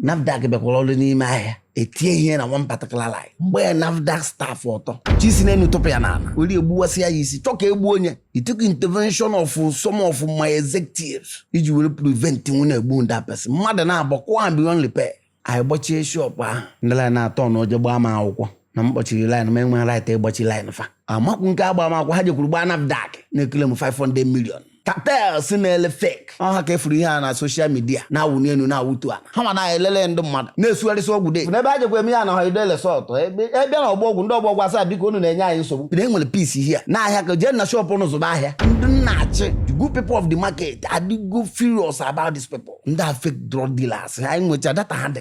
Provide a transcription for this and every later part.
nafdac bịakwara ọrụ n'ime ahịa etie ihe na one particular line gbaa nafdac staff ọtọ chọ isi n'elu tụpụ ya n'ala were egbuwasị ya isi chọ ka egbuo onye it took intervention of some of my executives iji were prevent nwụ na-egbu that person mmadụ naabọ kụọ ha beyond repair anyị gbachie shop ahụ ndị line na-atọ na oje gbaa m akwụkwọ na m kpọchiri line mụ enweghị right ịgbachi line fa amakwu nke agba m akwụkwọ ha jekwuru gbaa nafdac na-eclaim 500 million cartels na-ele fake ọ ha ka efuru ihe a na social media na-awụ n'elu na-awụtu ala ha ma na elele ndị mmadụ na-esugharịsị ọgwụ de n'ebe a jekwa eme ya na holiday resort a bịa na ọgbọ ọgwụ ndị ọgbọ ọgwụ asị ha biko unu na-enye anyị nsogbu na enwere peace here na ahịa ka jee na shop unu zụba ahịa ndị m na-achị the good people of the market adịgo furious about these people ndị a fake drug dealers anyị nwecha data ha dị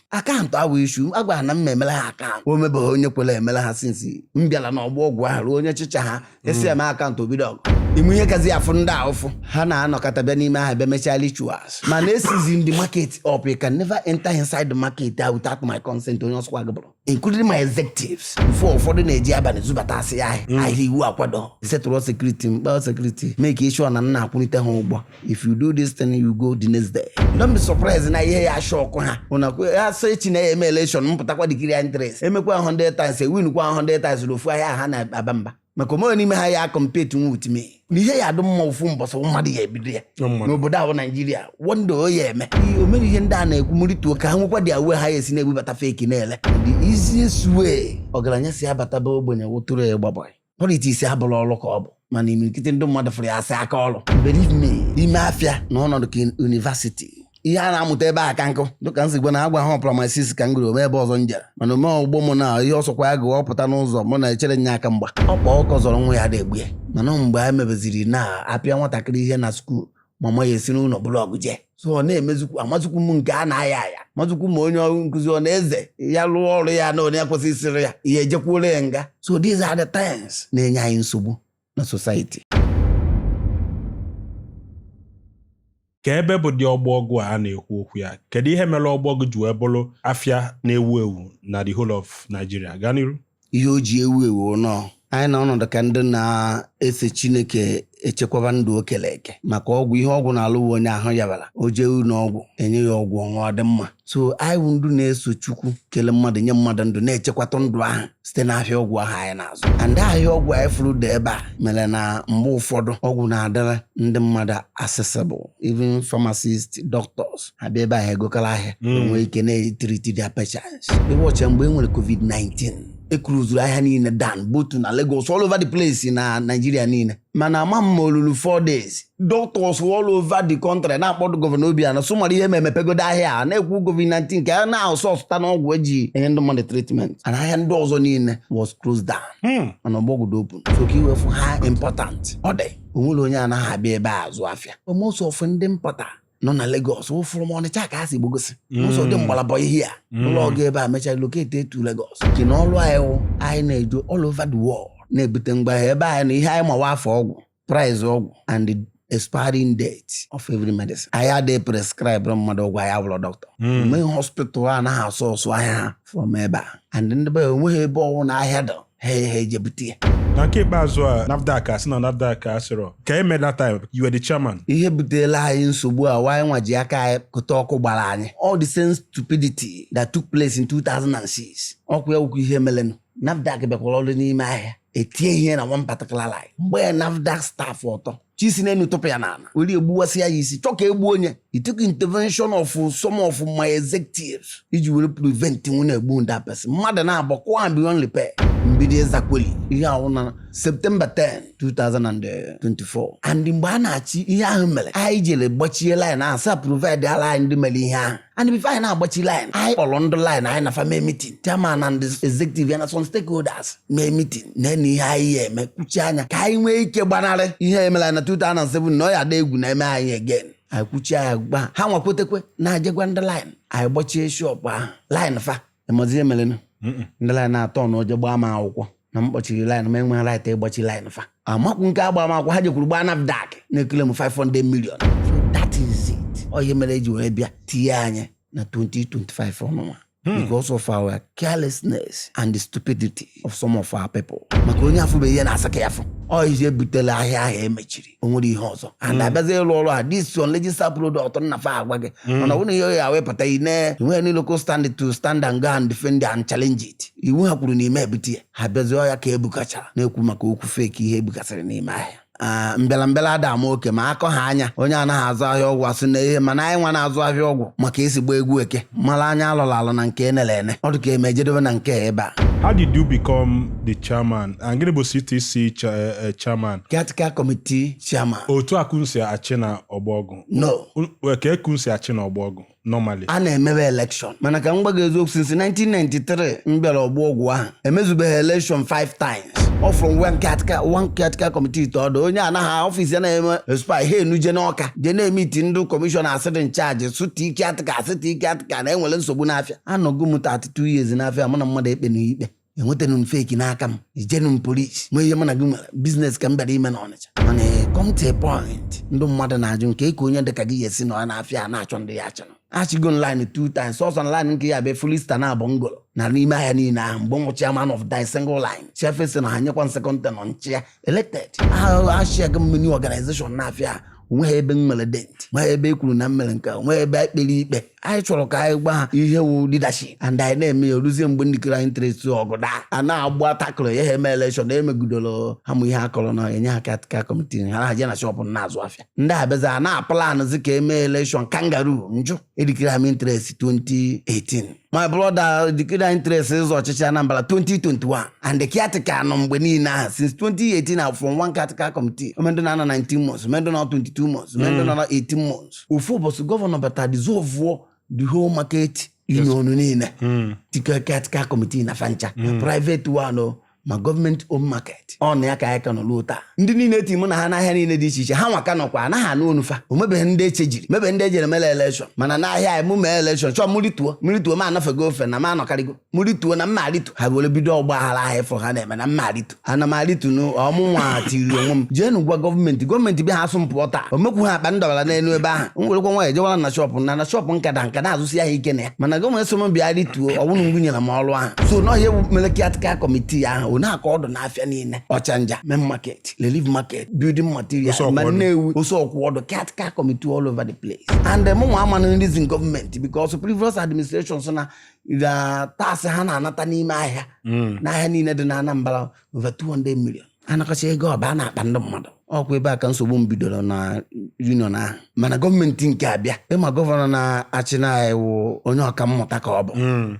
account awụ issue agwara na m ma emela ha account o nwebeghị onye kwere emela ha since m bịara n'ọgbọ ọgwụ ahụ ruo onye chịcha ha asị mee account o bido ọgụ ị ma ihe kazi afụ ndị a ụfụ ha na-anọkọta bịa n'ime ahịa bịa mechaa rituals mana e sealzi the market up you can never enter inside the market ah, without my consent onye ọ sọkwa gị bụrụ including my executives before ụfọdụ na-eji abalị zubatasịa ahịa ahịa iwu akwado setụrụ security mkpa security make sure na m na-akwụlite ha ụgwọ if you do this thing you go the next day don't be surprised na ihe ya shock ha una ko ya so echi na eme election m pụtakwa declare interest emekwa 100 times e win kwa 100 times ofu ahịa ha na aba mba maka o nwerọ n'ime ha ya compete nwu with me na ihe ya adụ mma ofu mbọsị mmadụ ya ebido ya n'obodo ahụ Nigeria one day o ya eme o mere ihe ndị a na-ekwu mụrịtuo ka ha nwekwa their way ha ya esi na-ebubata fake na-ele the easiest way ọgaranya si abata be ogbenye wụtụrụ ya gbabara politics abụrọ ọrụ ka ọ bụ mana imirikiti ndị mmadụ fụrụ ya as aka ọrụ believe me ime afịa nọ ọnọdụ ka university ihe a na-amụta ebe a ka nkụ dịka m si gwa na agwa ha ọ primary six ka m gụrụ o nwee ebe ọzọ m jere mana o nwee ọgbọ m na ihe ọ sọkwa ya gụọ pụta n'ụzọ mụ na echere nye aka mgba ọkpa ọkụkọ zọrọ nwa ya ada egbu ya mana mgbe a mebeziri na-apịa nwatakịrị ihe na school mama ya esi n'ụlọ buru ọgụ jee so ọ na-emezukwu amazukwu m nke a na-aya aya mazukwu ma onye ọrụ nkụzi ọ na-eze ya rụọ ọrụ ya na onye kwesị isiri ya ihe ejekwuola ya nga so these are the things na-enye anyị nsogbu na society ka ebe bụ dị ọgbọ ọgwụ a na-ekwu okwu ya kedu ihe mere ọgbọ ọgwụ ji wee bụrụ afịa na-ewu ewu na the whole of Nigeria gaa n'iru ihe o ji ewu ewu na anyị nọ ọnọdụ ka ndị na-eso chineke echekwaba ndụ o kere eke maka ọgwụ ihe ọgwụ na-alụ wụ onye ahụ yabara o jee ụlọ ọgwụ enye ya ọgwụ ọ ṅụọ ọ dị mma so anyị bụ ndị na-eso chukwu kele mmadụ nye mmadụ ndụ na-echekwata ndụ ahụ site n'ahịa ọgwụ ahụ anyị na-azụ and ahịa ọgwụ anyị fụrụ dị ebe a mere na mgbe ụfọdụ ọgwụ na-adịrị ndị mmadụ accessible even pharmacists doctors abịa ebe ahụ egokọrọ ahịa Mm. enwee ike na-etreat their patients ị watchaa mgbe e nwere covid-19 e closuru ahịa niile down both na Lagos all over the place na Nigeria niile mana ama m ma olulu 4 days doctors all over the country na-akpọ the governor Obiano sị mara ihe mee mepegodo ahịa a na-ekwu covid-19 ka a na-asourceta ọgwụ eji enye ndị mmadụ treatment and ahịa ndị ọzọ niile was closed down Hmm. mana Ọgbọ Ọgwụ dị open so ka i wee fụ how important ọ dị onwerọ onye anaghị abịa ebe a azụ afịa most of ndị importer nọ na Lagos wụ from Ọnịcha ka ha si gbagosi ụfọdụ gbala bọị here wụlụ ọga ebe a mechaa relocate to Lagos ji na ọrụ anyị wụ anyị na-eje all over the world na-ebute ngwa ahịa ebe anyị nọ ihe anyị ma wụ afa ọgwụ price ọgwụ and the expiring date of every medicine anyị adịghị prescribe mmadụ ọgwụ anyị awụrọ doctor enweghị hospital anaghị asource ahịa ha from ebe a and ndị be enweghị ebe ọwụna ahịa dị ha ha ejebute ya na nke ikpeazụ a nafdac asị na nafdac asịrọ ka eme that time you were the chairman ihe butela anyị nsogbu a wụ anyịnwa ji aka anyị kụta ọkụ gbara anyị all the same stupidity that took place in 2006 ọ kwa ya wụkwa ihe melenụ nafdac bịakwara ọrụ n'ime ahịa etie ihe na one particular line gbaa nafdac staff ọtọ chi si n'enu tụpụ ya n'ala were egbuwasị ya isi chọ ka egbuo onye it took intervention of some of my executives iji were prevent ọnwụ na-egbu that person mmadụ naabọ akụọ ha beyond repair mbido exactly ihe a wụ na September 10 2024 and mgbe a na-achị ihe ahụ mere anyị jere gbachie line ahụ sị ha provideala anyị ndị mere ihe ahụ and before anyị na-agbachi line anyị kpọrọ ndị line anyị na fa mee meeting chairman and executive ya na some stakeholders mee meeting na na ihe anyị ya eme kwuchie anya ka anyị nwee ike gbanarị ihe emelu na 2007 na ọ ya ada egwu na eme anyị again anyị kwuchie anya gba ha nwakwetekwe na-ajegwa ndị line anyị gbachie shop ahụ line fa ịmazi ihe merenụ Mm-mm. ndị line atọ na oje gbaa m akwụkwọ na m kpọchiri line m enweghị right ịgbachi line fa amakwu nke agba m akwụkwọ ha jekwuru gbaa nafdak na-eclaim 500 million so that is it ọ ihe mere eji wee bịa tinye anyị na 2025 ọnụnwa because of our carelessness and the stupidity of some of our people maka onye afụbeghị ihe na-asị ka ya fụ ọ ihe butela ahịa ahụ emechiri o nwere ihe ọzọ and abịazi ịrụ ọrụ a this unregistered product na fa agwa gị mana ọ bụrụ na ihe ya wepụta i nee inwe any locus standi to stand and go and defend and challenge it iwu ha kwuru n'ime ebute ya ha bịazi ọ ya ka ebukachara na-ekwu maka okwu fake ihe ebugasịrị n'ime ahịa Ah, mbịara mbịara ada ama oke ma akọ ha anya onye anaghị azụ ahịa ọgwụ asị na ihe mana anyị nwa na-azụ ahịa ọgwụ ma ka esi agba egwu eke mara anya alọrọ alọ na nke enere ene ọ dị ka m ejedobe na nke a ebe a How did you become the chairman Na gịnị bụ CTC cha- eh, eh, chairman Caretaker Committee Chairman. otu a ka unu si achị na Ọgbọ Ọgwụ No. U- kee ka unu si achị na Ọgbọ Ọgwụ normally a na-emewe elekshọn mana ka m gwa gị eziokwu since 1993 m bịara Ọgbọ Ọgwụ ahụ emezubeghị elekshọn 5 times ọ from one caretaker- one caretaker committee to ọdọ onye anaghị ọfịs ya na-eme expire ha enuje n'Ọka je na-emeet ndị kọmishọna a sị dị in charge sị tie caretaker sị tie caretaker na enwere nsogbu n'afịa anọgo m 32 years n'afịa mụ na mmadụ ekpenu ikpe enwetenu m fake n'aka m ejenu m polisi ma ihe mụ na gị nwere biznes ka m bịara ime n'Ọnịcha mana come to a point ndị mmadụ na-ajụ na kee ka onye dịka gị ya-esi nọ n'afịa a na-achọ ndị ya-achị achịgo m line two times sọsọ line nke ya bụ fulista na abụ ngolo na n'ime ahịa niile ahụ mgbe m wụ chairman of the single line chịfesị na ha nyekwa m second tenure m chịa elected achịago m many ọganizeshọn n'afịa onweghị ebe m nwere dent nweghị ebe e kwuru na m mere nke onweghị ebe e kpere ikpe anyị chọrọ ka anyị gwa ha ihe wụ leadership and anyị na-eme ya oruzie mgbe m declare interest ọgụ daa a na-agba takụrụ ya ha eme elekshọn emegidoro ha mụ ihe akọrọ na enye ha caretaker committee ha na-aje na shọpụ na-azụ afịa ndị abịazi a na-aplanụzi ka eme elekshọn kangaroo m jụ edeclare m interest 2018 my brother declare interest ịzọ ọchịchị Anambra 2021 and the caretaker nọ mgbe niile ahụ since 2018 from one caretaker committee o nwe ndị na-anọ 19 months o nwe ndị na 22 months o nwe ndị na 18 months ofu ụbọchị gọvanọ bata dissolve the whole market union niile tikọ caretaker committee na fa ncha private one o ma gọọmenti own market ọ na ya ka anyị ka nọ ruo taa ndị niile eti mụ na ha n'ahịa niile dị iche iche hanwa ka nọkwa anaghị anụ ọnụ fa o nwebeghị ndị e chenjiri nwebeghị ndị ejere mele elekshọn mana n'ahịa anyị mụ mee elekshọn chọọ mụ rituo mụ rituo m anọfego ofe na m anọkarịgo mụ rituo na m ama aritu ha were bido ọgba aghara ahịa ị fụrụ ha na-eme na m ama aritu ana m aritu na ọ mụnwa tiri onwe m jeenụ gwa gọọmenti gọọmenti bịa ha asị m pụọ taa o mekwu ha akpa m dọbara n'elu ebe ahụ m werekwa nwayọ jewara na shọpụ na na shọpụ m ka dị m ka na-azụsi ahịa ike na ya mana gọọmenti sị m bịa rituo ọwụrụ ngwu nyere m ọrụ ahụ so na ọ ihe mere caretaker committee ahụ ọ na-akọ ọdụ n'afịa niile Ọchanja main market relief market building material ma Nnewi Ose Ọkwọdụ caretaker committee all over the place and eh, mụnwa amanụ reason gọọmenti because previous administration sị na the tax ha na-anata n'ime ahịa n'ahịa niile dị na Anambra over 200 million anakọcha ego ọ baa n'akpa ndị mmadụ ọkwa ebe a ka nsogbu m bidoro na union ahụ mana gọọmenti nke a bịa ị ma gọvanọ na-achị anyị wụ onye ọka mmụta ka ọ bụ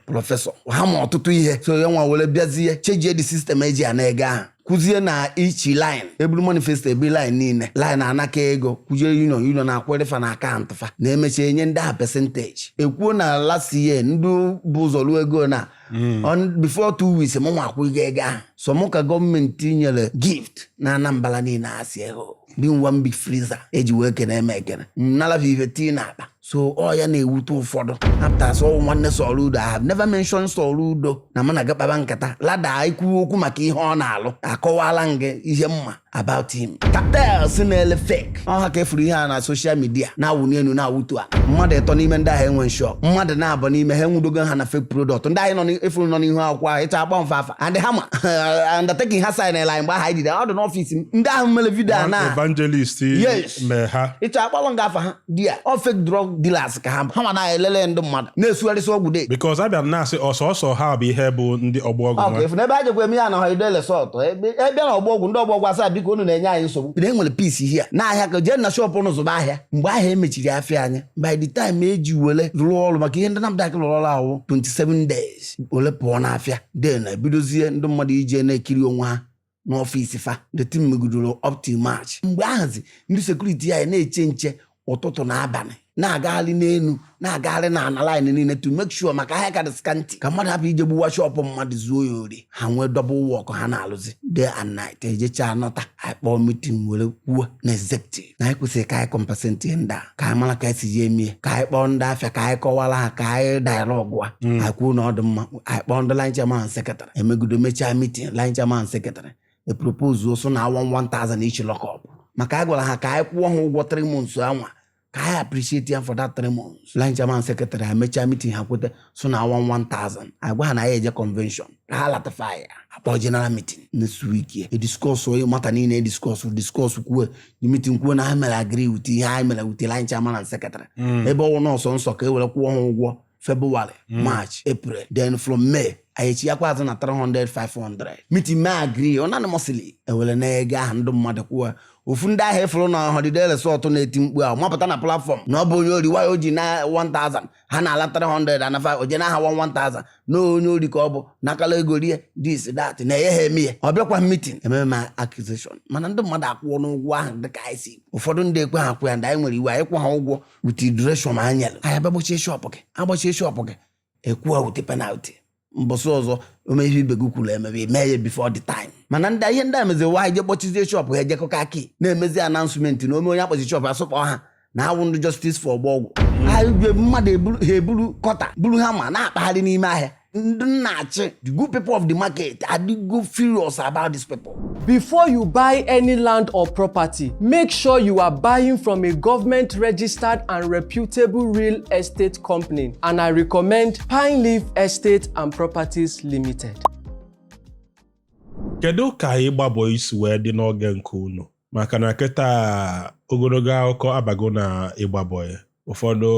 prọfesọ ha ma ọtụtụ ihe so ya nwa were bịazie chenjie the system e ji ana ego ahụ kwuzie na each line eburu manifesto ebu line niile line anakọ ego kwụzie union union akwụrụ fa na akaụntụ fa na-emecha enye ndị ahụ pesentaji ekwuo na last year ndị bu ụzọ ruo ego na Mm. On- before two weeks mụ nwa akwụghị ego ahụ sọ mụ ka gọọmenti nyere gift na anambra niile asị ego dị one big freezer eji wee kene m ekene nala fa ife tii na akpa so ọ ya na-ewute ụfọdụ apụta sị ọ wụ nwanne soludo I have never mentioned soludo na mụ na gị kpaba nkata rather ikwu okwu maka ihe ọ na-alụ akọwala m gị ihe m ma about him cartels na-ele fake ọ ha ka efuru ihe a na social media na-awụ n'enu na-awụtu a mmadụ ịtọ n'ime ndị ahụ enwe shop mmadụ naabọ n'ime ha enwudogo ha na fake product ndị ahụ efuru nọ n'ihu akwụkwọ ahụ ị chọọ akpọọ m afa fa and ha ma undertaking ha signịlị mgbe ahụ anyị jide ọ dị n'ọfịs m ndị ahụ mere vidio a na evangelist mee ha ị chọọ akpọọrọ m gị afa ha they are all fake drug dealers ka ha ha ma na-elele ndị mmadụ na-esugharịsị ọgwụ de because abịa m na-asị ọsọsọ ha bụ ihe bụ ndị ọgbọ ọgwụ ọgwụ nwa efu n'ebe a jekwa eme ya na holiday resort e bịa na ọgbọ ọgwụ ndị ọgbọ ọgwụ asị ha biko unu na-enye anyị nsogbu na enwere peace here n'ahịa ka jee na shọpụ ụnụ zụba ahịa mgbe ahụ emechiri afịa anyị by the time eji wele rụọ ọrụ maka ihe ndị nafdac rụrụ ọrụ ahụ 27 days wele pụọ n'afịa then ebidozie ndị mmadụ ije na-ekiri onwe ha n'ọfịs fa the thing megidoro up till march mgbe ahụzi ndị sekuriti anyị na-eche nche ụtụtụ na abalị na-agagharị n'elu na-agagharị na ana line niile to make sure maka ahịa ka dị scanty ka mmadụ hapụ ije gbuwa shọpụ mmadụ zuo ya ori ha nwee double work ha na-alụzi day and night ejecha anọta akpọọ meeting were kwuo na executive na anyị kwesịrị ka anyị compensate ndị a ka anyị mara ka esi ji emie ka anyị kpọọ ndị afịa ka anyị kọwara ha ka anyị dialogue a anyị kwuo na ọ dị mma anyị kpọọ ndị line chairman secretary emegido mechaa meeting line chairman secretary epropozuo sị ọ naa 1000 each lock up maka anyị gwara ha ka anyị kwụọ ha ụgwọ 3 months anwa ka anyị appreciate ha for that 3 months line chairman secretary ha mechaa meeting ha kweta sị ọ naa 1000 agwa ha na ya eje convention ka ha lata fa ya akpọ general meeting next week ya ediskọs on the matter niile ediskọs diskọs kwuo the meeting kwuo na ha mere agree with ihe anyị mere with line chairman and secretary ebe ọ wụ na ọ sọsọ ka e were kwụọ ha ụgwọ february march april then from may anyị echighakwa azụ na 300 500 meeting mee agree unanimously ewere naa ego ahụ ndị mmadụ kwụọ ofu ndị ahụ efụrụ na holiday resort na-eti mkpu ahụ mapụta na platform na ọ bụ onye ori why o ji naa 1000 ha na-ala 300 and 5 o je naa ha 1000 na onye ori ka ọ bụ nakala ego rie this that na enye ha eme ya ọ bịakwa meeting ememe m accusation mana ndị mmadụ akwụọnụ ụgwọ ahụ dịka anyị si ụfọdụ ndị ekwehọ akwụ ya ndị anyị nwere iwu ị kwụhọ ụgwọ with duration anyị nyere anyị abịa gbachie shọpụ gị agbachie shọpụ gị ị kwụwa with penalty mbọsị ọzọ ome ihe ibe gị kwuru emebe i mee ya before the time mana ndị ihe ndị a mezi wụ anyị je kpọchizie shọpụ ha ejekọka aki na-emezi announcement na ome onye akpọchi shọpụ ya sokwa ha na awụ ndị justice for ọgbọ ọgwụ ha ebie mmadụ ha eburu cutter buru hammer na-akpagharị n'ime ahịa ndị m na-achị the good people of the market adịgo furious about this people Before you buy any land or property, make sure you are buying from a government registered and reputable real estate company and I recommend Pine Leaf Estate and Properties Limited. Kedu ka ịgbabọ isi wee dị n'oge nke unu? maka na kịta ogologo akụkọ abago na ịgba bọị ụfọdụ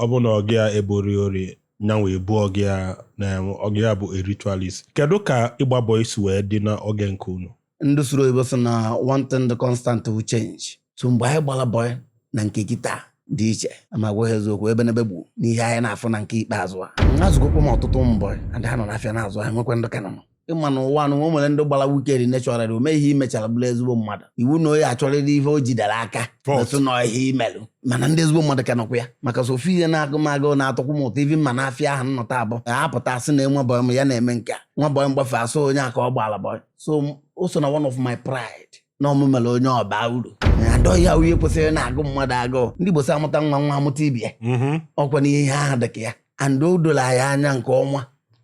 ọ bụ na ọga ya ebo ya ori nyanwa ebo ọga ya na ọga ya bụ a ritualist kedu ka ịgba bọị si wee dị n'oge nke unu ndị sụrụ oyibo sị na one thing dị constant wụ change so mgbe anyị gbara bọị na nke kịta dị iche aga m agwa gị eziokwu ebe n'ebe gbu n'ihe anyị na-afụ na nke ikpeazụ a azụgokwa m ọtụtụ ụmụ bọị ndị ha nọ n'afịa na-azụ e nwekwa ndị ka nọ ịma na ụwa na o nwere ndị gbara wicked naturally o meghị i mechara bụrụ ezigbo mmadụ ị fụ na onye a chọrịrị ihe o jidere aka fault metụ na ihe i melụ mana ndị ezigbo mmadụ ka nọkwa ya maka so ofu ihe na-agụ m agụ na-atọkwu m ụtọ even m baa n'afịa ahụ nnọta abụ apụta a sị na nwa bọyị m ya na-eme nke a nwa bọyị m gbafee a sị onye a ka ọ gbaala bọyị so m- o so na one of my pride na ọ mụ mere onye ọ baa uru and ọ ya wụ ihe kwesịrị na-agụ mmadụ agụụ ndị Igbo sị a mụta nwa nwa amụta ibe ya mm-hmm. ọkwa na ihe ahụ dị ka ya and o dolu anyị anya nke ọma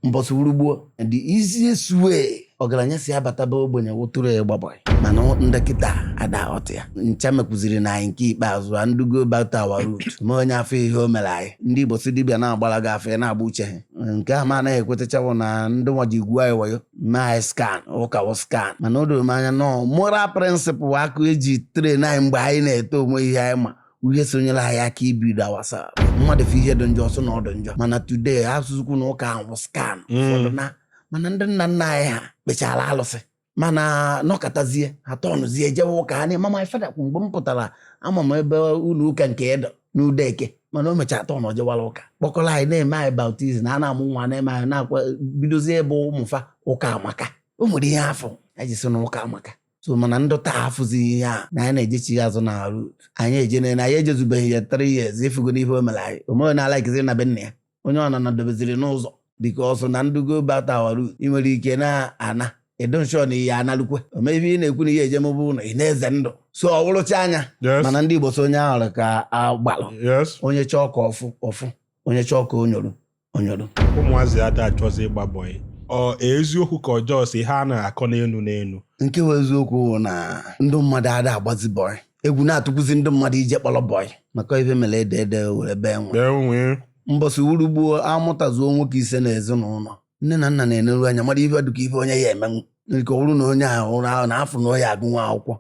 mbọsị wuru gboo the easiest way ọgaranya si abata be ogbenye wụ through ịgba bọị mana ndị kịta ada aghọta ya ncha m kwuziri na anyị nke ikpeazụ a need ịgo back to our root ma onye afụ ihe o mere anyị ndị Igbo sị dibịa na-agbara gị afa ị na-agba uche gị nke ahụ m anaghị ekwetachanwu na ndị white gwuo anyị wayo mee anyị scam ụka wụ scam mana o doro m anya na ọ moral principle ahụ e ji train anyị mgbe anyị na-eto onwe ihe anyị ma ihe so nyere anyị aka ibido awasa mmadụ fụ ihe dị njọ ọ sị na ọ dị njọ mana today a sịzikwu na ụka wụ scam Mm. ụfọdụ na mana ndị nna nna anyị ha kpechara alụsị mana nọkatazie ha turnụzie jewe ụka ha na-ema my father kwụ mgbe m pụtara ama m ebe ụlọ ụka nke Edo n'ude eke mana o mechara turn jewara ụka kpọkọrọ anyị na-eme anyị baptism na a na-amụ nwa na-eme anyị na-akwa bidozie ebe ụmụfa ụka amaka o nwere ihe a fụ anyị ji sị na ụka amaka so mana ndị taa afụzi ihe a na anyị na-ejechi ya azụ na root anyị ejene na anyị ejezubeghị ya three years ịfụgo n'ife o mere anyị o mere na alakizi na be nna ya onye ọ na dobeziri n'ụzọ because ọ sị na need ịgo back to our root ị nwere ike na-ana edonshọ na ihe analukwe omebe ị na-ekwu na ihe ejem bụ na ị na-eze ndụ so ọ wụrụcha anya Yes. mana ndị Igbo sị onye ahụrụ ka agbalụ yes onye chọọ ka ọ fụ ọ fụ onye chọọ ka o nyoro o nyoro ụmụazị ada achọzi ịgba bọyị ọ eziokwu ka ọ just ihe a na-akọ n'enu n'enu nke bụ eziokwu bụ na ndị mmadụ ada agbazi bọị egwu na-atụkwuzi ndị mmadụ ije kpọrọ bọị maka ife mere ede ede were bee nwii mbọsị wuru gboo a mụtazuo nwoke ise n'ezinụlọ nne na nna na-eneru anya mara ife dịka ife onye ya-emenwu nke ọ bụrụ na onye ahụ ụra ahụ na a fụ na onye ya-agụnwu akwụkwọ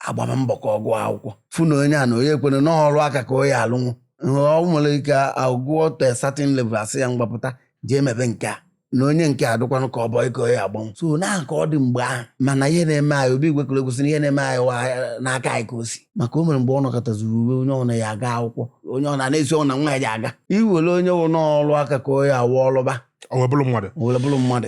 a gbaba mbọ ka ọ gụọ akwụkwọ fụ na onye a na onye ekwere na ọrụ aka ka ọ ya-alụnwu ọ nwere ike agụọ to a certain level a sị ya ngwa pụta jee mebe nke a na onye nke a dịkwanụ ka ọ bọị ka ọ ya-agbanwu so na ka ọ dị mgbe ahụ mana ihe na-eme anyị Obi Igwe kwere ukwe sị na ihe na-eme anyị wa n'aka anyị ka o si maka o mere mgbe ọ nọkataziri uwe onye ọna ya-aga akwụkwọ onye ọna na-esi ọnwụ na nwa ya ji aga e were onye wụ n'ọlụ aka ka ọ ya-alụ ọ lụba o were bụrụ mmadụ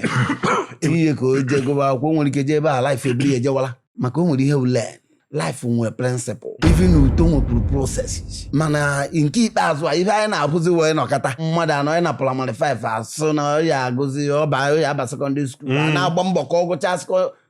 ihe ka o je gụba akwụkwọ nwere ike jee ebe ahụ life eburu ya ejewala maka o nwere ihe ule life nwere prịnsịpụl even uto nwekwuru processes mana nke ikpeazụ a ife anyị na-ahụzi wụ ị nọkata mmadụ anọ ya na praịmarị 5 asụ na ya agụzi ọba ya aba sekọndịrị skuul a hmm. na-agba mbọ ka ọ gụchaa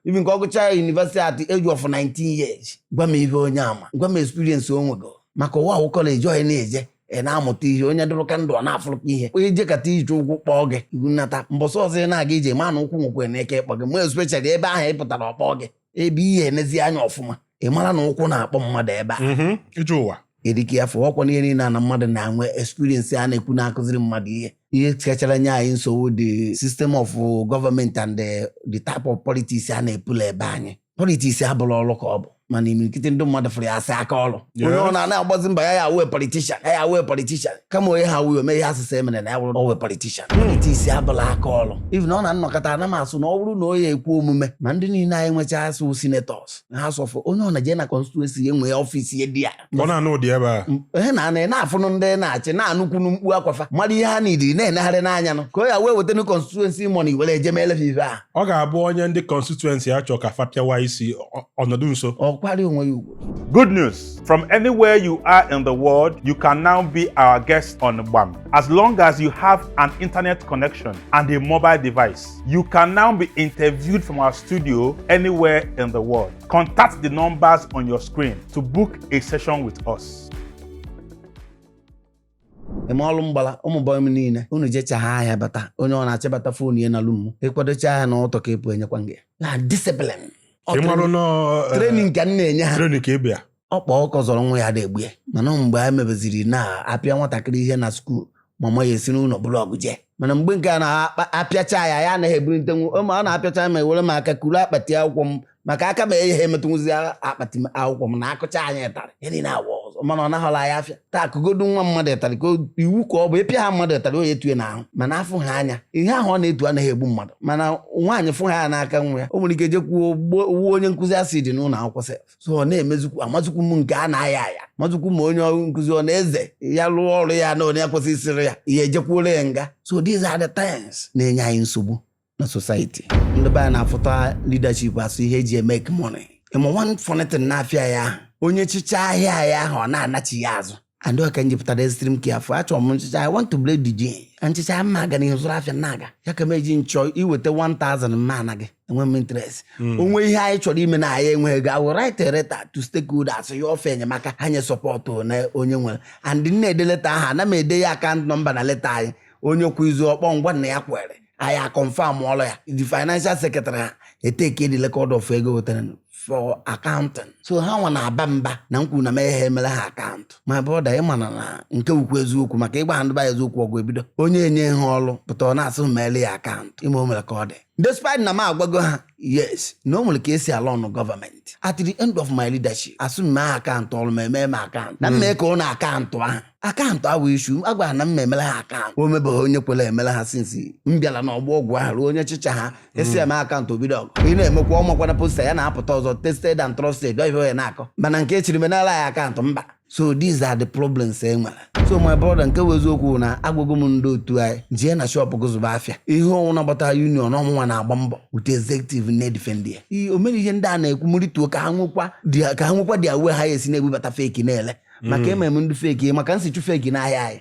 even ka ọ gụchaa yunivesiti at age of 19 years gwa m ife onye a ma gwa m experience o nwego maka ụwa a wụ kọleji onye na-eje ị na-amụta ihe onye dụrụka ndụ ọ na-afụrụka ihe onye jekata ije ụkwụ kpọọ gị nata mbọsị ọzọ ị na-aga ije ma na ụkwụ nwekwe na ike ịkpọ gị ma especially ebe ahụ ị pụtara ọ kpọọ gị ebe ị ya-enezi anya ọfụma ị mara na ụkwụ na-akpọ mmadụ ebe a mhm, ije ụwa erike ya fụọ ọkwa ihe niile na mmadụ na-enwe experience a na-ekwu na-akụziri mmadụ ihe ihe kachara nye anyị nsogbu the system of government and the, the type of politics a na-eplay ebe anyị politiks abụrọ ọrụ ka ọ bụ mana imirikiti ndị mmadụ fụrụ ya asị aka ọrụ onye ọ na a na-agbazi mbọ ya ya awee politishan ya ya awee politishan kama onye ha wuyo mee ihe asụsụ emere na ya wụrụ owe politishan politiks abụla aka ọrụ even ọ na m nọkata ana m asụ na ọ bụrụ na ọ ya-ekwe omume ma ndị niile anyị nwecha asụ senetọs na House of onye ọ na-eje na konstituensi ya enwe ọfisi ya dị ya ọ na-anọdụ ebe ahụ na-anọ na-afụnụ ndị ọ na-achị na-anụkwunu mkpu akwa fa mara ihe ha nidiri na-enegharị n'anya nụ ka ọ ya wee wetanu konstituensi mọni were eje meele ha ife a ọ ga-abụ onye ndị konstituensi ya chọọ ka fa pịawa isi ọ nọdụ nso ọ kwari onwe ya ugbo Good news! From anywhere you are in the world, you can now be our guest on Gbam. As long as you have an internet connection and a mobile device, you can now be interviewed from our studio anywhere in the world. Contact the numbers on your screen to book a session with us. eme ọrụ mgbala ụmụ bọyị m niile unu jechaa ahịa bata onye ọ na-achịbata foonu ya na lumu ị kwadochaa ahịa n'ụtụtụ ka ị pụ enyekwa gị na disiplin Ị marụ nọ, eh, trenin ka m na-enye ha training ka ị bịa ọkpa ọkụkọ zọrọ nwa ya adị egbu ya mana mgbe a mebeziri na a pịa nwatakịrị ihe na skuul mama ya esi n'ụlọ buru ọgụ jee mana mgbe nke a na-apịacha ya ya anaghị ebulitenwu ma ọ na-apịacha m ewere m aka kuru akpati akwụkwọ m maka aka ma eyi ha emetụnwụzi akpati akwụkwọ m na akụcha anyị ịtarị ya niile awa ọzọ mana ọ naghọla ya afịa taa akụgodu nwa mmadụ ịtarị ka iwu ka ọ bụ ịpịa ha mmadụ ịtarị ọ ya-etue na ahụ mana afụ ha anya ihe ahụ ọ na-etu anaghị egbu mmadụ mana nwaanyị fụ ha ya n'aka nwa ya o nwere ike jekwuo wụọ onye nkụzi acid n'ụlọ akwụkwọ sef so ọ na-emezikwu amazikwu m nke a na-aya aya mazikwu m onye ọrụ nkụzi ọ na-eze ya lụọ ọrụ ya na onye kwesịrị isiri ya ihe ejekwuoro ya nga so these are the things na-enye anyị nsogbu na society ndị be anyị na-afụta leadership asụ ihe eji make money ịma one funny thing n'afịa ya ahụ onye chịchaa ahịa ya ahụ ọ na-anachigha azụ and ọ ka nji pụta dị extreme careful achọrọ m nchịcha i want to break the jinx nchịcha m na-aga n'ihu zụrụ afịa na-aga ya ka m eji nchọ iweta 1000 ma anaghị enwe m interest hmm. o nwee ihe anyị chọrọ ime na anyị enweghị ego awụ write letter to stakeholders yọọ fa enyemaka ha nye sọpọtụ na onye nwere and m na-ede leta ahụ ana m ede ya akaụntụ nọmba na leta anyị onye kwa izu ọ kpọọ m gwa m na ya kwere anyị akọnfam ọlụ ya the financial secretary ha eteke the record of ego wetara for accounting so ha nwa na-aba mba na-ekwu na m anaghị emere ha akaụntụ my brother ị mana na nke wụkwa eziokwu maka ị gwa ha ndị be anyị eziokwu ọgụ ebido onye e nyeghị ọlụ pụta ọ na-asị m meere ya akaụntụ ime o mere ka ọ dị despite na m agwago ha yes na o nwere ka e si arọnụ gọọmenti at the end of my leadership a sị m mee akaụntụ ọlụ m emee m akaụntụ na mmee ka ụlọ akaụntụ ahụ akaụntụ awụ issue agwara na m emere ha akaụntụ o nwebeghị onye kwere emere ha since m bịara na ọgbọ ọgwụ ahụ ruo onye chịcha ha asị ya mee akaụntụ o bido ọgụ ị na-emekwa ọ makwana poster ya na-apụta ọzọ tested and trusted ọ ife a na-akọ mana nke ọ chịrị menara ya akaụntụ mba so these are the problems e nwere so my brother nke wụ eziokwu na agwago m ndị otu anyị jee na shop gị zụba afịa ihe ọnwụ na-agbata union ọ mụnwa na-agba mbọ with executive na-edifend ya Ii, o mere ihe ndị a na-ekwu m rituo ka ha nwekwa their- ka ha nwekwa their way ha esi na-ebubata fake na-ele maka mm. emere m ndị fake maka m sị chụ fake n'ahịa anyị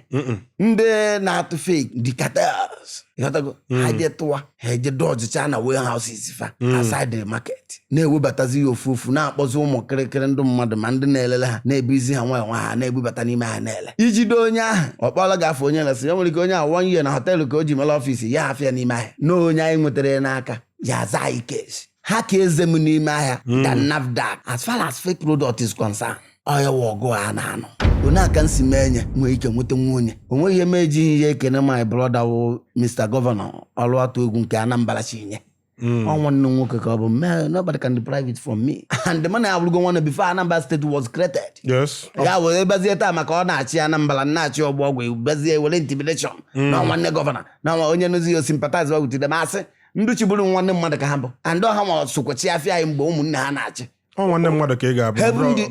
ndị na-atụ fake the cartels ịghọtago mm. ha je tụwa ha eje dọjịcha na warehouses fa mm. outside the market na-ewebatazi ya ofu ofu na-akpọzi ụmụ kịrịkịrị ndị mmadụ ma ndị na-elelụ ha na-ebuzi ha nwayọ nwayọ ha na-ebubata n'ime ahịa na-ele i jide onye ahụ ọ kpọlụ gị gaa fụ onye resị ya nwere ike onye a one year na họteelụ ka o ji mere ọfịs ya afịa n'ime ahịa na onye anyị nwetara ya n'aka ya-aza anyị case ha ka eze m n'ime ahịa than hmm. NAFDAC as far as fake product is concerned ọ ya wụ ọgụ a na-anụ onye aka nsi mee nye nwee ike nweta nwa onye o nweghị ihe m ejighị ihe ekene my brother wụ Mr. Gọvanọ ọlụ atụ egwu nke Anambra chi nye ọ nwanne m nwoke ka ọ bụ "Man, nobody can deprive it from me and mụ na ya abụrụgo nwanne before Anambra State was created yes ya were bịazie taa maka ọ na-achị Anambra m na-achị ọgbọ ọgwụ bịazie were intimidation na nwanne gọvanọ na nwa onye nụzi ya sympathize with them asị ndị chịburu nwanne mmadụ ka ha bụ and ọ ha nwa sokwa chị afịa anyị mgbe ụmụnne ha na-achị ọ nwanne mmadụ ka ị ga-abụ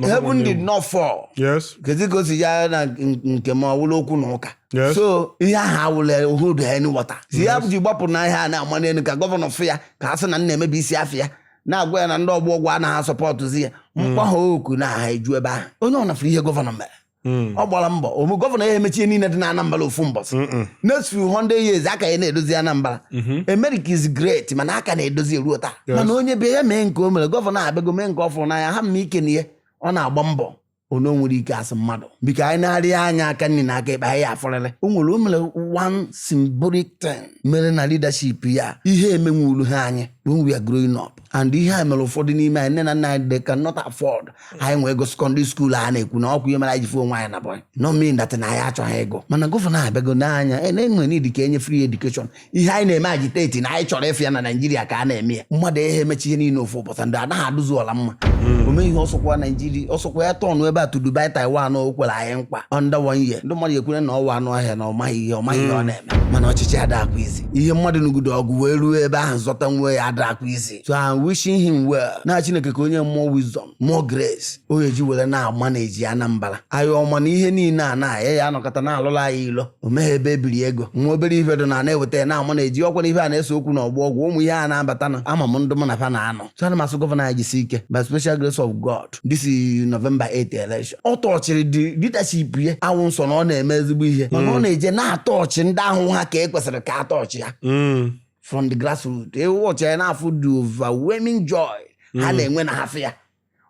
heaven did not fall yes kezi ka o si ya na nke m ọ wụlụ okwu na ụka Yes. so ihe ahụ awụla o hold any water ihe ha ji gbapụ na ihe a na-ama n'elu ka gọvanọ fụ ya ka a sị na m na-emebisi afịa na-agwa ya na ndị ọgbọ ọgwụ anaghị asọpọtụzi ya m kpọọ ha oku na ha eju ebe ahụ onye ọbụna fụrụ ihe gọvanọ mere Hmm. ọ gbara mbọ o nweghị gọvanọ ya-emecha ihe niile dị na anambra ofu mbọsị next few hundred years a ka ya na-edozi anambra mhm. america is great mana a ka na-edozi ruo taa mana onye bịa mee nke o mere gọvanọ abịago mee nke ọ fụrụ n'anya ha mma ike na ihe ọ na-agba mbọ onye nwere ike asị mmadụ biko anyị na-arị anya aka nri na aka ekpe anyị afụrịrị o nwere o nwere one symbolic thing o mere na leadership ya ihe emenwuru ha anyị when we are growing up and ihe a mere ụfọdụ n'ime anyị nne na nna anyị they cannot afford anyị nwee ego secondary school a na-ekwu na ọkwa ihe mere anyị ji fụ onwe anyị na boy no mean that na anyị achọghị ịgụ mana gọvanọ abịago n'anya e na-enwe need ka e nye free education ihe anyị na-eme agitate na anyị chọrọ ịfụ ya na naijiria ka a na-eme ya mmadụ aha emecha ihe niile ofu ụbọchị ndị anaghị adụzi ọla mma o mee ihe a sị ọkwa naijiria ọ sị ọkwa ya-atọnụ ebe a to dubai taiwan o kwere anyị nkwa under one year ndị mmadụ ekwere na ọ wụ anụ ọhịa na ọ maghị ihe ọ maghị ihe ọ na-eme mana ọchịchị adịghịkwa easy ihe mmadụ nụgide ọgụ wee ruo ebe ahụ zọta nwe ya adakwa easy so I'm wishing him well na Chineke ka o nye more wisdom more grace ọ ya-eji were na-amanage Anambra anyị ọma na ihe niile a na ya ya anọkọta na-alụla anyị ilo o nweghị ebe e biri ego nwa obere ife dụ na na-eweta ya na-amanage ọkwa na ife a na-ese okwu na Ọgbọ Ọgwụ ụmụ ihe a na-abata na ama m ndụ mụ na fa na-anọ so ana m asụ gọvanọ anyị jisi ike by special grace of God vote this is November 8 election ọ tọchịrị the leadership ya awụ nsọ na ọ na-eme ezigbo ihe mana ọ na-eje na-atọchị ndị ahụ ha ka e kwesịrị ka atọchị ya Mm. from the grassroots ịwọchị ya na-afụ the overwhelming joy ha na-enwe na ha fụ ya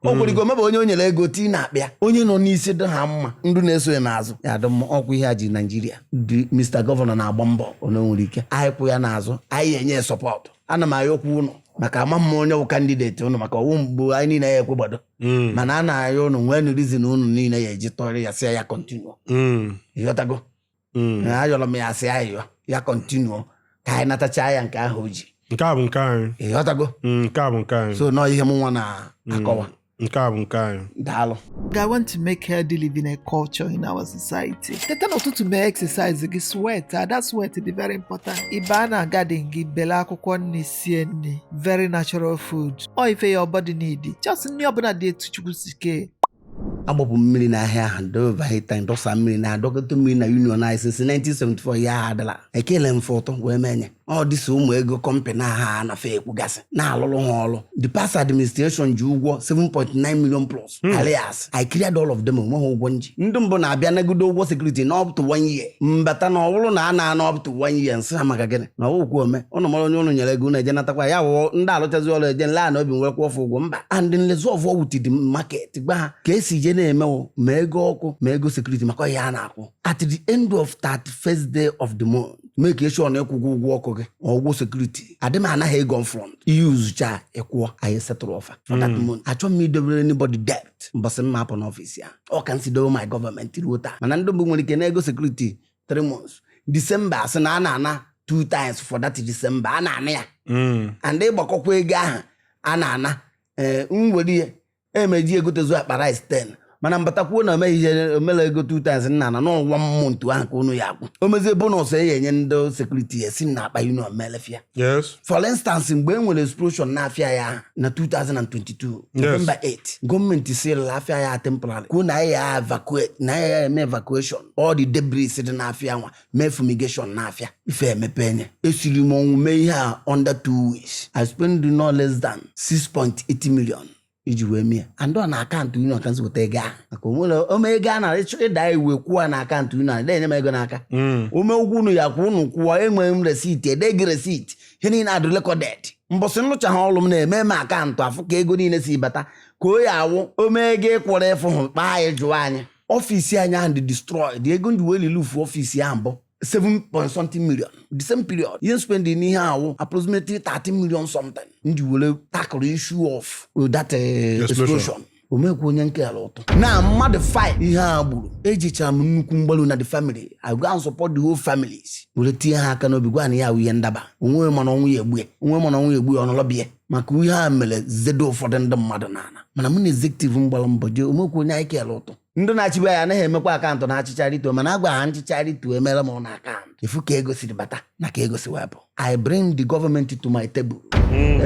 o nwere ike o nwebe onye o nyere ego tii n'akpa ya onye nọ n'isi dị ha mma ndị na-eso ya n'azụ ya-adị mma ọkwa ihe a ji Naijiria dị Mr gọvanọ na-agba mbọ onye nwere ike anyị kwụ ya n'azụ anyị enye ya sọpọtụ ana m ayọkwa ụnụ maka ama m onye wụ kandideti ụnụ maka ọ wụ mgbe anyị niile ya ekwegbado Mm. mana a na-ayọ ụnụ nwee nụ rizin ụnụ niile ya eji tụọrọ ya sị ya kọntinuo Mm. ịghọtago Mm. na ayọrọ m ya sị ayọ ya kọntinuo ka anyị natachaa ya nke ahụ o ji nke a bụ nke anyị ịghọtago Mm, nke a bụ nke anyị so nọọ ihe m nwa na-akọwa nke a bụ nke anyị daalụ I want to make healthy living a culture in our society. Teta n'ụtụtụ mee exercise gị sweat that sweat dị very important. Ị baa na garden gị bele akwụkwọ nri sie nri very natural food. Ọ ife your body need. Just nri ọbụla dị etu Chukwu si kee. agbapụ mmiri n'ahịa ahụ do overhead tank dọsa mmiri na adọkọta mmiri na union anyị since 1974 ya adala ekele m fọtọ wee menye ọ dịsị ụmụ ego kọmpanị ha na fa ekwugasị na-alụrụ ha ọrụ the past administration ji ụgwọ 7.9 million plus Hmm. arrears I cleared all of them onweghị ụgwọ nji ndị mbụ na-abịa nagodo ụgwọ sekuriti na up to one year mbata na ọ wụrụ na a na-ana up to one year nsị ha maka gịnị na ọwụkwu ome ụnụ mara onye ụnụ nyere ego ụnụ eje natakwa ya wụọ ndị alụchazi ọrụ eje nla na obi nwerekwa ọfụ ụgwọ mba and nlezi ọfụ with the market gwa ha ka esi je na-emewo ma ego ọkụ ma ego sekuriti maka ihe a na-akwụ at the end of 31st day of the month make sure na ị kwụgwo ụgwọ ọkụ gị ma ụgwọ sekuriti adị m ana ha ego front i yuzuchaa ị kwụọ anyị settle fa for that month achọghị m idobere anybody debt mbọsị m ma-apụ n'ọfịs ya ọ ka m si dobe my gọọmenti ruo taa mana ndị mbụ nwere ike na ego sekuriti 3 months disemba asị na a na-ana two times for that disemba a na-ana ya Mm. and ịgbakọkwa ego ahụ a na-ana ee nwere ike e ma-eji egotezu akpa rice 10 mana mbata kwuo na o nweghị ihe omela ego 2 times nna na ọ one month ahụ ka unu ya akwụ o mezie bonus e ya enye ndị sekuriti ya esi n'akpa union welfare yes for instance mgbe e nwere explosion n'afịa ya ahụ na 2022 November 8 gọọmenti sirila afịa ya temporary kwuo na ya evacuate na ya eme evacuation all the debris dị n'afịa nwa mee fumigation n'afịa ife emepe enye esiri m ọnwụ mee ihe a under two weeks i spend no less than 6.8 million iji wee mee ya and ọ na akaụntụ union ka nzipụta ego ahụ maka o nwere o nwee ego a nara ịchọ ịda iwu kwụọ na akaụntụ union a na-enye m ego n'aka hmm. o nwee ụgwọ unu ya-akwụ unu kwụọ enwere m resiti edee gị resiti ihe niile adị recorded mbọsị nrụcha ha ọlụ m na emee m akaụntụ a fụ ka ego niile si bata ka o ya awụ o nwee ego ị kwụrụ ị fụhụ kpọọ anyị jụọ anyị ọfisi anyị ahụ dị destroyed ego nji wee reroof ọfisi ahụ bụ 7 point something million the same period ihe spending n'ihe ahụ approximately 30 million something nji wee tackle issue of that uh, Explosion. explosion o nwekwa onye nkele ụtụ na mmadụ 5 ihe a gburu ejichara m ụkwụ m gbalu na the family i go and support the whole families were tinye ha aka n'obi gwa na ya ahụ ihe ndaba onye ma na ọnwụ ya-egbu ya onye ma na ọnwụ ya-egbu ya ọ nọlọ be ya maka ihe a mere zedo ụfọdụ ndị mmadụ n'ala mana mụ na executive m gbara mbọ jee o nwekwa onye anyị kere ụtụ ndị na-achị be anyị anaghị emekwa akaụntụ na achịchaa rituo mana agwa ha nchịchaa rituo emere m unu akaụntụ ị fụ ka ego siri bata na ka ego si wepụ i bring the government to my table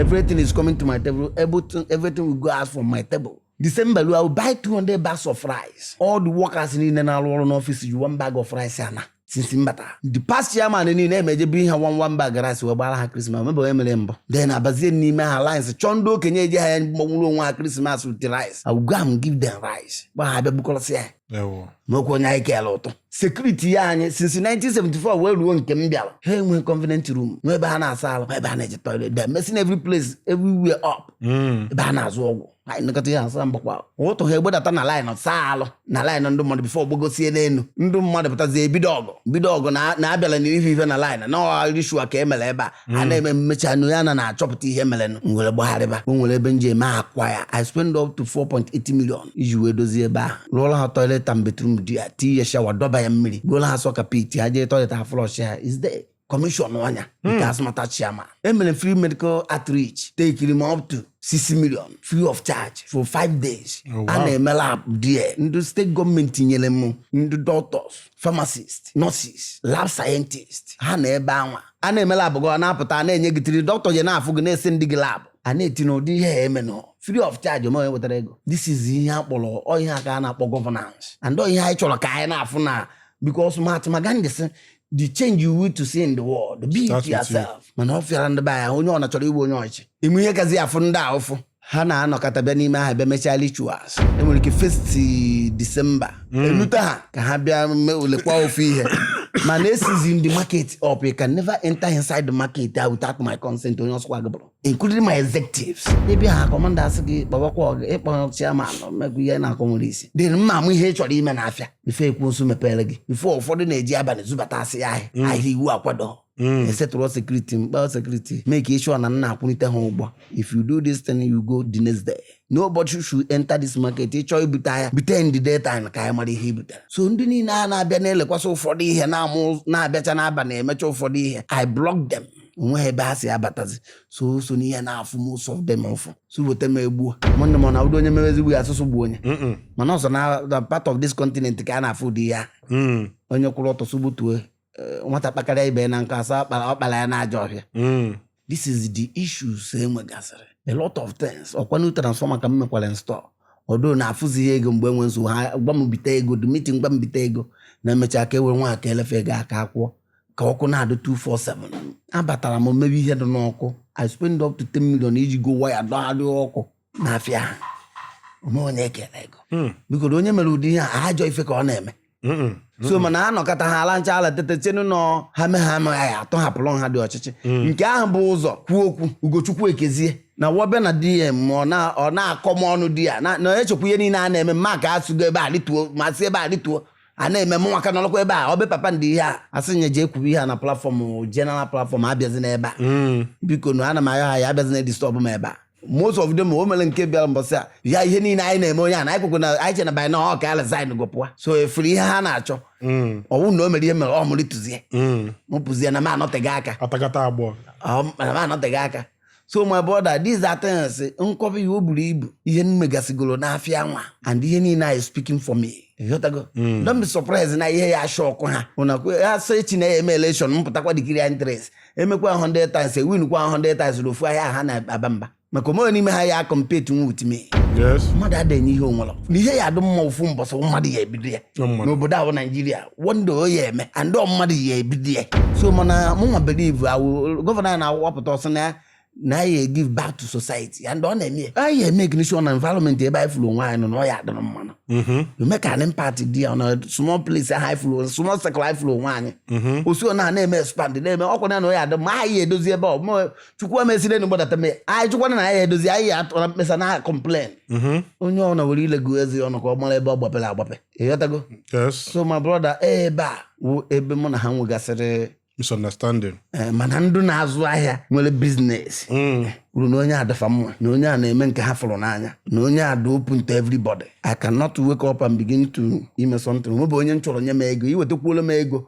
everything is coming to my table everything, everything will go out from my table December lu I will buy 200 bags of rice all the workers niile na-arụ ọrụ n'ọfịs ji one bag of rice ana since mbata the past chairman niile emejebu ihe one one bag rice wee gbara ha krismas e nwebe onye mere mbụ then abazie n'ime ha lines chọọ ndị okenye eji ha ya mgbanwụrụ onwe ha krismas with rice I will go and give them rice gwa ha bịa bukọrọsị ya o nwekwa onye anyị kele ụtụ sekuriti ya anyị since 1974 wee ruo nke m bịara ha enwe convenient room nwe ebe ha na-asa alụ ebe ha na-eje toilet they messing every place everywhere up hmm. ebe ha na-azụ ọgwụ anyị nlekọta ihe asa mgbakwa ụtụtụ ha agbadata na laịnụ saa alụ na laịnụ ndị mmadụ bifo gbagosie n'elu ndị mmadụ pụtazie bido ọgụ bido ọgụ na- na-abịala na ife ife na laịnụ na ọ wụ ritual ka e mere ebe a a na-eme m mechaa nụ ya na na-achọpụta ihe merenụ m were gbagharịba o nwere ebe nje eme akwa ya i spend up to 4.8 million iji wee dozie ebe ahụ rụọla ha toilet and bathroom there tinye shawa dọba ya mmiri gbuola ha sọka pit ha jee toilet ha flush ya is there kọmishọn nya nke hmm. ASMATA chairman emere free medical outreach tekiri m up to 6 million free of charge for 5 days oh, a na-eme lab there ndị steeti gọọmenti nyere m ndị doctors pharmacist nurses lab scientist ha nọ ebe anwa a na-eme lab gị ọ na-apụta na-enye gị tiri dọkịta je na-afụ gị na-esendi gị lab a na-eti na ụdị ihe eme nọ free of charge o nwe onye wetara ego this is ihe a kpọrọ ihe a ka a na-akpọ governance and ihe anyị chọrọ ka anyị na-afụ na because Mahatma Gandhi sị the change you want to see in the world be it Start with you. yourself mana ọ fịara ndị be anyị onye ọ na chọrọ ịbụ onye ọchị ime ihe kazi afụ ndị a ụfụ ha na-anọkọta bịa n'ime ahịa bịa mechaa rituals enwere ike first disemba elute ha ka ha bịa mee ulekwa ofu ihe mana esealzie m the market up you can never enter inside the market ah, without my consent onye ọ sọkwa gị bụrụ including my executives ịbịa ha commander asị gị kpọbakwa ọgụ ịkpọ chairman mmegwu ihe na-akọ nwere isi dị mma amụ ihe ị chọrọ ime n'afịa before ekwu nso mepere gị before ụfọdụ na-eji abalị zubata asị ya ahịa Mm. ahịa iwu akwado Mm. esetụrụ security mkpa security make sure na m na-akwụlite ha ụgwọ if you do this thing you go the next day nobody should enter this market ịchọọ ibute ahịa bute in the daytime ka anyị mara ihe ibutere so ndị niile a na-abịa na-elekwasị ụfọdụ ihe na-abịacha n'abalị emecha ụfọdụ ihe i block them onwe ebe ha si abatazi so so n'ihe na-afụ most of them ụfụ so weta m egbuo nwanne m ọ na-abụdo onye mere ezigbo ya asụsụ gbuo onye mana ọ sọ na part of this continent ka a na-afụ ụdị ya mm. onye kwụrụ ọtọ sụgbutue eh, nwata kpakarịa ibe ya na nkụ asị ọ kpara ya na ajọ ọhịa mm. this is the issues enwegasịrị a lot of things ọkwa new transformer ka m mekwara install ọdụ na-afụzi ihe ego mgbe enwe nsogbu ha gwa m bite ego the meeting gwa m bite ego na emechaa ka e were nwa aka elefe ego aka akwụọ ka ọkụ na-adị 247 abatara m mebe ihe dị n'ọkụ i spend up to 10 million iji go waya dọgharịa ọkụ n'afịa a onwe onye ekele ego hmm. biko onye mere ụdị ihe a ajọ ife ka ọ na-eme so mana a nọkọta ha ala ncha ala tete tienu nọ ha me ha amaghị ya atọhapụrụ ha dị ọchịchị hmm. nke ahụ bụ ụzọ kwuo okwu ugochukwu ekezie na wọbịa na DM ọ na-akọ m ọnụ di ya na echekwa ihe niile a na-eme mma ka asụgo ebe a rituo ma si ebe a rituo a na-eme m nwaka nọrọkwa ebe a ọ bụ papa ndị ihe a asị ya jee kwuru ihe a na platform general platform abịazi n'ebe a Mm. biko nu ana m ayọ ha ya abịazi na disturb m ebe a most of them o mere nke bịara mbọsị a ya ihe niile anyị na-eme onye a na anyị kwekwe na anyị che na by now ọ ka resign go pụwa so efuru ihe ha na-achọ Mm. ọwụ na o mere ihe mere ọ mụrụ tụzie Mm. m pụzie na m anọteghị aka Atakata agbọ. Ọ- na m anọteghị aka so my brother these are things m kọba ya o buru ibu ihe m megasigoro n'afịa nwa and ihe niile anyị speaking for me ịghọtago hmm. don't be surprised na ihe ya ashock ha ụnakwe ha so echi na ya eme election m pụtakwa declare interest emekwa 100 times ewin kwa 100 times n'ofu ahịa ha na-aba mba maka onwe n'ime ha ya compete nwa with me mmadụ ada enye ihe onwere na ihe ya adụ mma ofu mbọsị mmadụ ya ebido ya n'obodo a wụ Nigeria one day ọ ya eme and ọ mmadụ ya ebido ya so mana mụnwa believe awụ governor anyị na-awapụta ọsọ na na anyị give back to society and ọ na-eme ya anyị eme ignition na environment ebe anyị fụrụ onwe anyị nọ na ọ ya adịrị mmanụ make an impact dị ya na small place ahụ anyị fụrụ small circle anyị fụrụ onwe anyị osi ọ na na-eme expand na-eme ọkwa na na ọ ya adị ma anyị edozi ebe ọ ma chukwu emesiri enyi gbadata mee anyị chụkwana na anyị edozi anyị atụra mkpesa na complain onye ọ na were ile gụọ eze ọnụ ka ọ mara ebe ọ gbapere agbape ịghọtago yes so my brother ebe a wụ ebe mụ na ha nwegasịrị misunderstanding eh, mana ndị na-azụ ahịa nwere business Mm. kwuru na onye a dị fa mma na onye a na-eme nke ha fụrụ n'anya na onye a dị open to everybody I cannot wake up and begin to ime something nwebụ onye m chọrọ nye m ego iwetakwuola m ego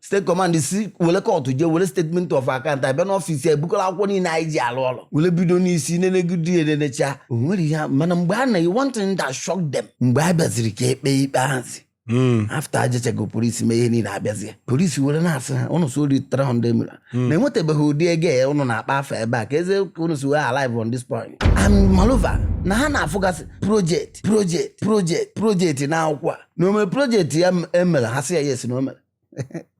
state command si were kọtụ jee were statement of account abịa n'ọfịs ya ebukọrọ akwụkwọ niile anyị ji alụ ọrụ were bido n'isi nenegide ya nenecha o nwere ihe a- mana mgbe a na one thing that shocked them mgbe a bịaziri ka ekpe ikpe ahụzi Mm. after ajechego polisi mee ihe niile abịazie polisi were na-asị ha ụnụ sị o ri 300 million na enwetabeghị ụdị ego ya ụnụ na-akpọ afa ebe a kezi ka ụnụ si wee arrive on this point and moreover na ha na-afụgasị project project project project na akwụkwọ a na o me project ya m- emere ha sị ya yes na o mere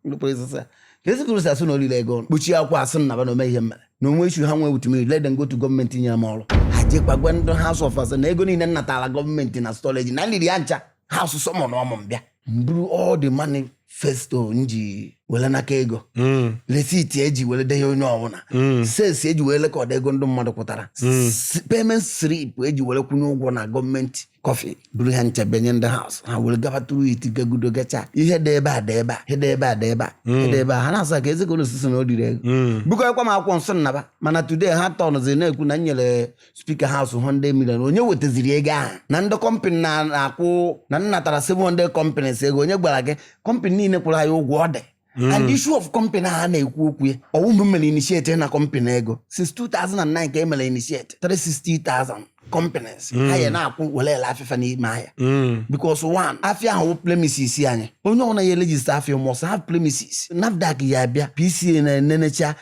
ndị polisi sị ya kezi ka ụnụ si asị na o lili ego ọnụ kpuchie akwụkwọ asị m naba na o nwee ihe m mere na o nwee issue ha nwee with me let them go to gọọmenti nyere m ọrụ ha jekwa gwa ndị House of Assembly na ego niile m natara gọọmenti na stallage na m liri ya ncha House summonụọ mụ m bịa m buru all the manifesto m ji were nakọ ego Mm, resiti eji were denye onye ọbụla mm, sales eji were record ego ndị mmadụ kwụtara Mm. S- payment slip eji were kwụnye ụgwọ na gọọmenti coffer buru ha ncha bunye ndị House ha were gaba through it gagudo gacha ihe dị ebe a dị ebe a ihe dị ebe a dị ebe a ihe dị ebe a ha na-asị kezi ka unu si sị na o riri ego bukọkwa m akwụkwọ sị m naba mana today ha turnzi na-ekwu na m nyere Speaker House 100 million onye wetaziri ego ahụ na ndị company na-ekwu na m natara 700 companies ego onye gwara gị company niile kwụrụ anyị ụgwọ ọ dị Mm. and issue of company a na-ekwu okwu ya ọ wụ mụ mere initiate ịna company ego since 2009 ka e mere initiate 360,000 companies ha ya na-akwụ were ele afịa fa n'ime ahịa Mm. because one afịa ahụ wụ premises anyị onye ọbụla ya register afịa must have premises NAFDAC ya abịa PCN enenecha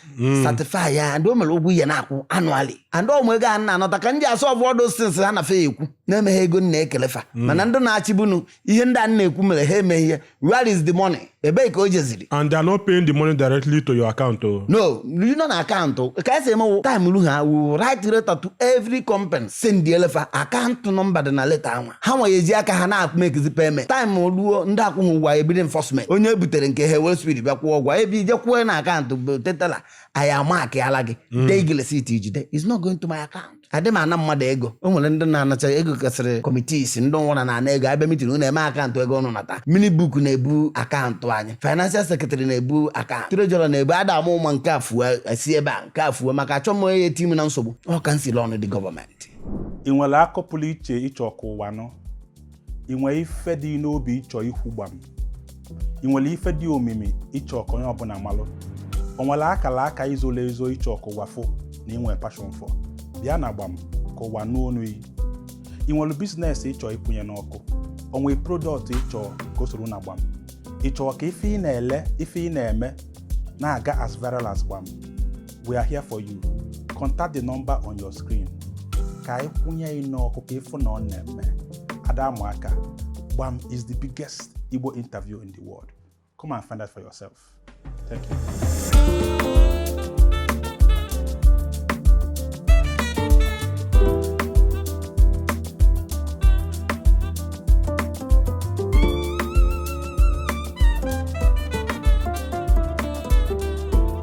certify ya and o nwere ụgwọ ị ya na-akwụ annually and ọ wụ ego a na-anata ka m ji a-solve all those things ha na fe ekwu na-emeghe ego na-ekele fa mana ndị na-achịbu nu ihe ndị a na-ekwu mere ha emeghị ya where is the money ebee ka o jeziri and they are not paying the money directly to your account o oh. no you know na akaụntụ oh. ka esi eme wụ time lu ha will write letter to every company send-elụ fa akaụntụ number dị na leta anwa ha nwa eji aka ha na-make-zi payment time ruo ndị akwụghị ụgwọ ebido enforcement onye e butere nke ha wee speed bịa kwụọ ụgwọ ebe ị je kwụọ na akaụntụ bute teller anyị a-mark-ala gị mm. dee gị receipt i jide is not going to my account adị m ana mmadụ ego o nwere ndị na-anacha ego kasịrị committees ndị nwụra na-ana ego abịa mitin unu eme akaụntụ ego ụnụ nata minute book na-ebu akaụntụ anyị financial secretary na-ebu akaụntụ treasurer na-ebu ada ama ama nke a fue esi ebe a nke a fue maka achọ m onye eti m na nsogbu ọ ka m siri ọnụ ndị gọọmenti ị nwere akụkọ pụrụ iche ị chọ ka ụwa nụ ị nwere ife dị n'obi ị chọ ikwu gbam ị nwere ife dị omimi ị chọ ka onye ọbụla malụ o nwere akala aka i zolo ezo ị chọ ka ụwa fụ na i nwe passion for bịa na gbam ka ụwa nụ onu yi ị nwere business ị chọ ịkwụnye n'ọkụ o nwere product ị chọ ka o soro na gbam ị chọ ka ife ị na-ele ife ị na-eme na-aga as viral as gbam we are here for you contact the number on your screen ka anyị kwụnye gị n'ọkụ ka ị fụ na ọ na-eme ada ama aka gbam is the biggest igbo interview in the world come and find out for yourself thank you